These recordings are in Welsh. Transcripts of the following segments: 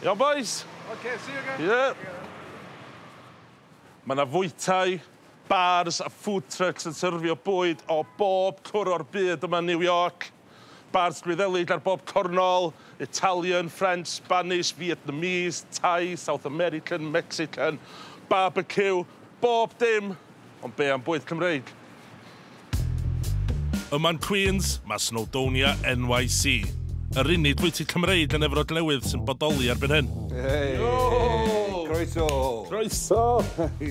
Iawn bois! Ok, see you again. Yep. Mae 'na fwytai, bars a food trucks yn syrfio bwyd o bob cwr o'r byd yma yn New York. Bars Gwyddelig ar bob cornol, Italian, French, Spanish, Vietnamese, Thai, South American, Mexican, barbecue, bob dim! Ond be am bwyd Cymreig? Yma'n Queens, mae Snowdonia NYC, yr unig fwyty Cymreig yn Efrog Newydd sy'n bodoli erbyn hyn. Hey! Yo! Croeso! Croeso!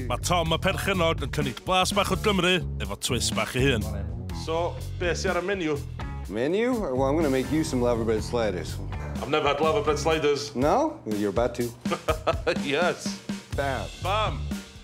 Mae Tom y perchennog yn cynnig blas bach o Gymru efo twist bach ei hun. So, be sy ar y menu? Menu? Well, I'm going to make you some laverbread sliders. I've never had laverbread sliders. No? Well, you're about to. Yes! Bam! Bam!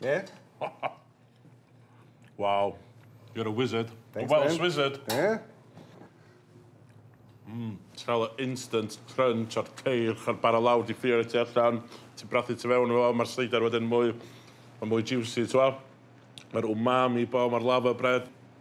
Yeah? wow. You're a wizard. Thanks, a Welsh man. wizard. Yeah? Mm, Trael o instant crunch o'r ceir, chael bara lawr di ffio ti allan, ti brathu ti fewn o, mae'r seidar wedyn mwy, mae mwy juicy, ti'n Mae'r umami bo, mae'r lava bread.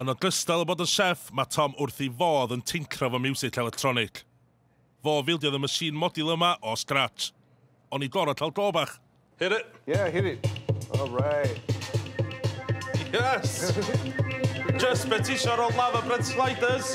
Yn ogystal â bod yn chef, mae Tom wrth ei fodd yn tincro fo miwsig electronic. Fo fildiodd y machine module yma o scratch. O'n i gorod cael go bach. Hit it! Yeah, hit it. All right. Yes! Just be tisio ar ôl lava bread sliders.